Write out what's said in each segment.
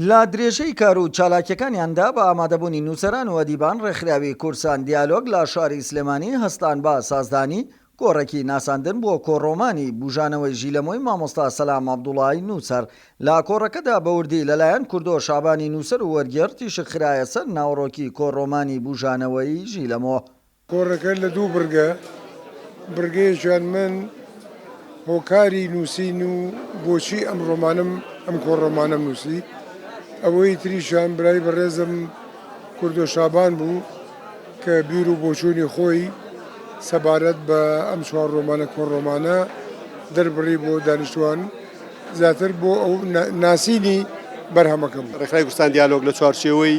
لە درێژەی کار و چالاکیەکانیاندا بە ئامادەبوونی نووسەران و ئەدیبان ڕێکخراوی کورسان دیالۆگ لە شاری سلێمانی هەستان بە سازدانی کۆڕەکی ناساندن بۆ کۆڕۆمانی بوژانەوەی ژیلەمۆی مامۆستا سەلام عەبدوڵای نووسەر لە کۆڕەکەدا بە وردی لەلایەن کوردۆ شەعبانی نووسەر و وەرگێڕ تیشک خرایە سەر ناوەڕۆکی کۆڕۆمانی بوژانەوەی ژیلەمۆ کۆڕەکە لە دوو بڕگە، بڕگەیەکیان من هۆکاری نووسین و بۆچی ئەم ڕۆمانەم ئەم کۆڕۆمانەم نووسی، ئەوەی تریشیان برای بەڕێزم کوردۆ شابان بوو کە بیر و بۆچوونی خۆی سەبارەت بە ئەم چوار ڕۆمانە کۆڕۆمانە دەربڕی بۆ دانیشتووان زیاتر بۆ ناسینی بەرهەمەکەم. ڕێکخرای کوردستان دیالۆگ لە چوارچێوەی.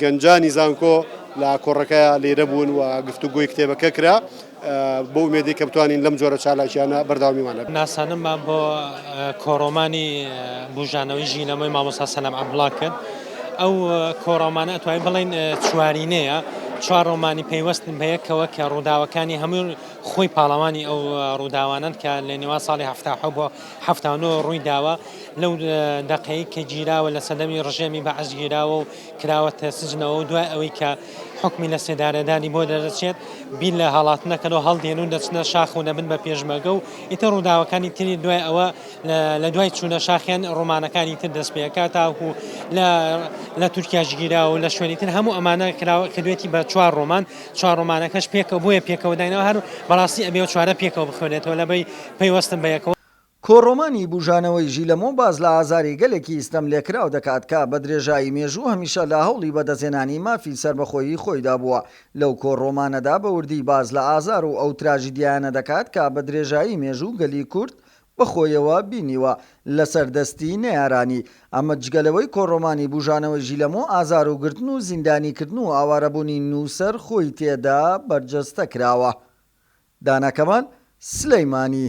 گەنجانی زانکۆ لە ئاکۆڕەکەیا لێرە بوون و گفتوگۆی کتێبەکە کرا بە ئومێدی کە بتوانین لەم جۆرە چالاکییانە بەردەوامیمان هەبێت. ناساندنمان بۆ کۆڕۆمانی بووژانەوەی ژینەوەی مامۆستا سەلام عەبدوڵا کرد. ئەو کۆڕۆمانە ئەتوانین بڵێین چوارینەیە، چوار ڕۆمانی پەیوەستن بە یەکەوە کە ڕووداوەکانی هەموو خۆی پاڵەوانی ئەو ڕووداوانەن کە لە نێوان ساڵی هەفتا حەوت بۆ حەفتا و نۆ ڕووی داوە لەو دەقەی کە گیراوە لە سەدەمی ڕژێمی بەعس گیراوە و کراوەتە سجنەوە و دوای ئەوەی کە حکمی لە سێدارەدانی بۆ دەدەچێت بیر لە هەڵاتنەکەەوە هەڵدێن و دەچنە شاخ و دەبن بە پێشمەگە و ئیتە ڕووداوەکانی تری دوای ئەوە لە دوای چوونە شاخیان ڕۆمانەکانی تر دەست پێەکە تاکو لە لە تورکیا گیراوە لە شوێنی تر هەموو ئەمانە کراوە کردوێتی بە چوار ڕۆمان چوار ڕۆمانەکەش پێکەوە بۆیە پێکەوە دایناوە هەر بەڕاستی ئەبێ ئەو چوارە پێکەوە بخوێنێتەوە لە بەی پەیوەستن بە یەکەوە. کۆڕۆمانی بوژانەوەی ژیلەمۆ باس لە ئازاری گەلێکی ستەم لێکراو دەکات کە بە درێژایی مێژوو هەمیشە لە هەوڵی بەدەستهێنانی مافی سەربەخۆیی خۆیدا بووە، لەو کۆڕۆمانەدا بە وردی باس لە ئازار و ئەو تراژیدیایانە دەکات کە بە درێژایی مێژوو گەلی کورد بەخۆیەوە بینیوە لەسەر دەستی نەیارانی، ئەمە جگە لەوەی کۆڕۆمانی بوژانەوەی ژیلەمۆ ئازار و گرتن و زیندانی کردن و ئاوارەبوونی نووسەر خۆی تێدا بەرجەستە کراوە. دانا کەمال سلەیمانی.